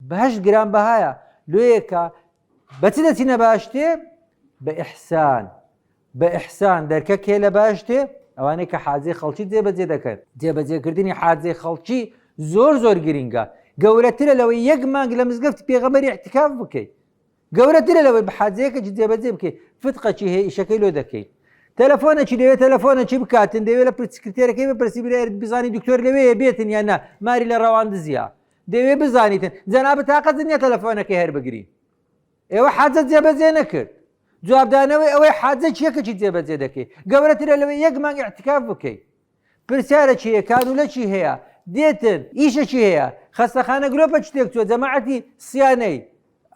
بەهەشت گران بەهایە لۆیە کە بە چ دەچینە باشتێ بە ئیحسان بە ئیحسان دەرکە کێ لە باشتێ ئەوانەی کە حاجێ خەڵکی جێبەجێ دەکەن جێبەجێکردنی حاجێ خەڵکی زۆر زۆر گرنگە گەورەترە لەوەی یەک مانگ لە مزگەفت پێغەمەری احتکاف بکەیت گەورەترە لەوەی بحاجەیەکە جێبەجێ بکەیت فتقەکی هەیە ئیشەکەی لۆ دەکەیت تەلەفۆنەکی دەوێت تەلەفۆنەکی بکاتن دەوێت لە پرسکرتێرەکەی بە پرسی بزانانی دکتۆر لەوەیە بێتن یان نا ماری لە ڕەوان دزیە دەوێ بزانیتن جەنابە تاقەت نیە تەلەفۆنەکەی هەر بگری ئێوە حەزە جێبەجێ نەکرد جوابدانەوەی ئەوەی حاجە چیەکەکی جێبەجێ دەکەی گەورەترە لەوێ یەک مانگ احتکاف بکەیت پرسیارە چی هەیە کانولە چی هەیە دێتن ئیشەکی هەیە خەستەخانە گرۆپە شتێک چوە جەماعەتی سیانەی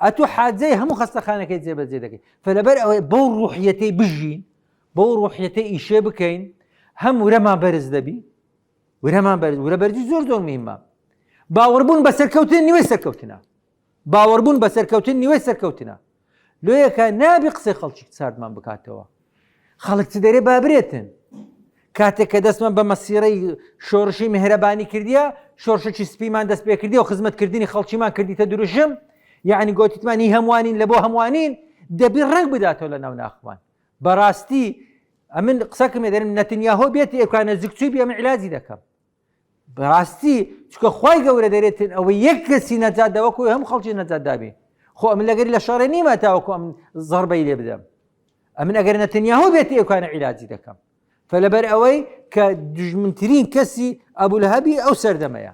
ئەتو حاجەی هەموو خەستەخانەکەی جێبەجێ دەکەیت فلەبەر ئەوەی بەو ڕوحیەتەی بژین بەو ڕوحیەتە ئیشێ بکەین هەم ورەمان بەرز دەبی ورەمان بەرز ورە بەرزی زۆر زۆر مهمە باوەڕبوون بە سەرکەوتن نیوەی سەرکەوتنە باوەڕبوون بە سەرکەوتن نیوەی سەرکەوتنە لۆیەکە نابی قسەی خەڵکی ساردمان بکاتەوە خەڵک چ دەرێ بابرێتن کاتێک کە دەستمان بە مەسیرەی شۆڕشی مهرەبانی کردیە شۆرشەی سپیمان دەست پێ کردی و خزمەتکردنی خەڵکیمان کردیتە دروشم یعنی گوتیتمانی هەمووانین لە بۆ هەمووانین دەبی ڕنگ بداتەوە لە ناو ناخمان بەڕاستی ئەمن قسەکەم دەرم نەتنیاهۆ بێت ئێکان نزیکچوی بێ ئەمە علاجی دەکەم بەڕاستی چکە خی گەورە دەرێتن ئەوە یەک کەسی نەجات داوەکو هەم خەڵکی نەجات دابێ خۆ ئەم لەگەر لە شەڕێ نیمە تاوەکو ئەم زڕبەی لێ بدەم ئەمن ئەگەر نەتنیاهۆ بێت ئێکانە علاجی دەکەم فلەبەر ئەوەی کە دژمنترین کەسی ئەبول هەبی ئەو سەردەمەیە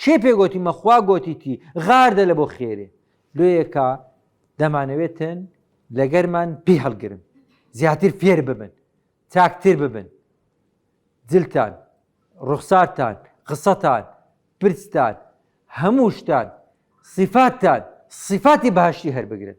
کێ پێ گۆتی مە خوا گۆتی تی غار دە لە بۆ خێرێ لۆیەکە دەمانەوێتن لەگەرمان پێی هەڵگرن زیاتر فێر ببن چاکتر ببن جلتان ڕوخسارتان قسەتان پرستان هەموو شتان سیفاتتان سیفاتی باشی هەربگرن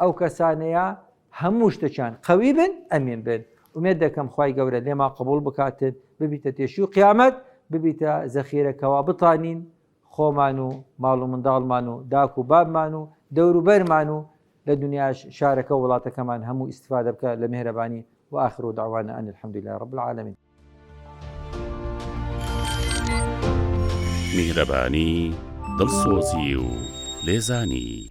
ئەو کەسانەیە هەموو شتەکیان قەوی بن ئەمین بن ئومێد دەکەم خی گەورە لێما قبول بکاتن ببیتە تێشی و قیامەت ببیتە زەخیرەکەوا بتانین خۆمان و ماڵ و منداڵمان و داک و بابمان و دەوروبەرمان و لە دنیاش شارەکە وڵاتەکەمان هەموو ئیسفادە بکە لە مهرەبانی و آخر و داوانە ئەن الحمد لله رب العالمین میهرەبانی دڵسۆزی و لێزانی